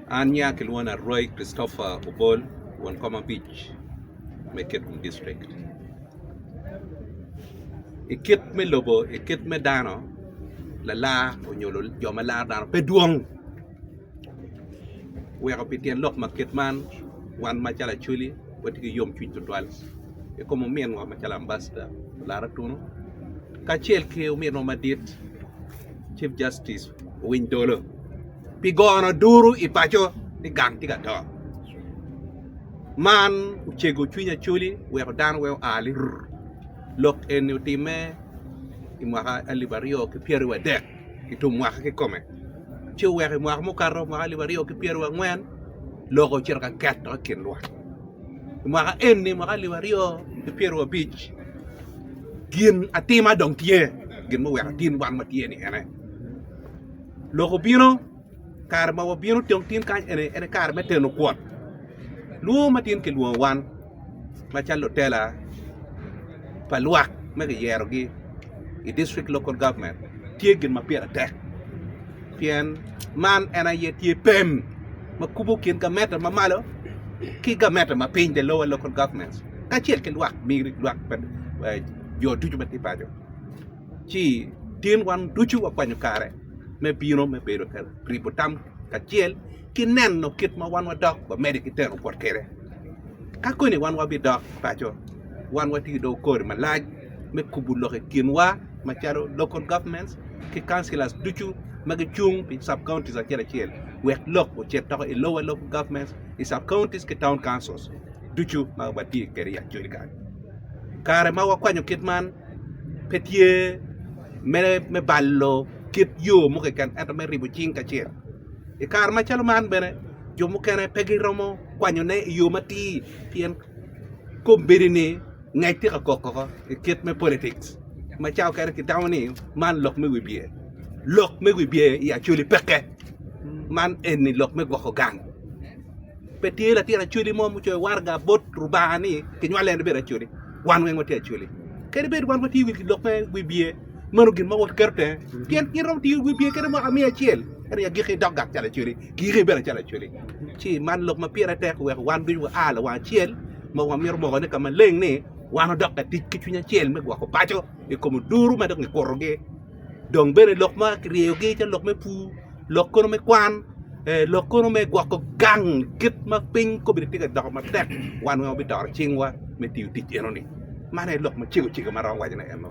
An nya kilwongo ni Arwai Christopher Obol won kom abic me Kitgum district. I kit me lobo i kit me dano lalar nyo jo ma laro dano pe dwong oweko pi tyen lok ma kit man wan macalo Acholi watye ki yomcwiny tutwal i kom ominwa macalo Ambassador Larotunu kacel ki ominwa madit Chief Justice Owiny Dollo pi gono duru i paco ni gang tye ka to. Man ocego cwiny Acholi weko dano weko oa lirr. Lok eni otimme i mwaka alip aryo ki pyeraryo adek i tum mwaka kikome ci oweko i mwaka mukato mwaka alip aryo ki pyeraryo angwen lok ocito ka ket dok i kin lwak. I mwaka eni mwaka alip aryo ki pyeraryo abic gin atima dong tye gin ma oweko atin wan watye ni ene lok obino kare ma wabino dong tin kany eni en aye kare me teno kwot lwongo ma tin kilwongo wan macalo lutela pa lwak ma kiyerogi i district local government tye gin ma pire tek pien man en aye tye pem ma kubo kin gamente ma malo ki gamente ma piny the lower local government kacel ki lwak pa jo ducu ma tye paco ci tin wan ducu wakwanyo kare me bino me bedo ka ribo tam kacel ki neno kit ma wan wadok wamede ki teno bot kwede. Ka koni wan wabidok paco, wan watye dong kori malac me kubo lok i kinwa macalo local governments ki councillors ducu ma gicung pi sub counties acel acel wek lok ocit doko i lower local governments, i sub counties ki town councils ducu ma watye kwede i Acholi kany. Kare ma wakwanyo kit man pe tye me balo kit yo mo keken ento me ribo cing kacel. I kare macalo man bene jo mukene pe giromo kwanyone i yo matir pien kombeddi-ni ngec tye ka kok koko i kit me politics ma cawa mukene kitamo ni man lok me wibye lok me wibye i Acholi peke man eni lok me gwoko gang pe tye latin Acholi mo ma ocoyo waraga bot Lubanga ni kinywale en ibedo Acholi wan weng watye Acholi kadi bed wan watye i lok me wibye Meno gin ma waketo tenge, pien in romo tiyo wiye kede mwaka miya acel, ento i agikki idok gak calo acweli, kiyiki bene calo acweli. Ci iman lok ma pire tek wek wan ducu waa lawang acel, ma wamito mokone ka maleng ni wan wadok ka tic ki cwiny acel me gwoko paco i kom oduru ma dong kikurogi. Dong bene lok ma kiryeyogi calo lok me pur, lok kono me kwan, lok kono me gwoko gang kit ma piny kobbe tye ka doko matek, wan weng wabitoro cingwa me tiyo tic enoni. Mano aye lok macego cego ma aromo wacone eno.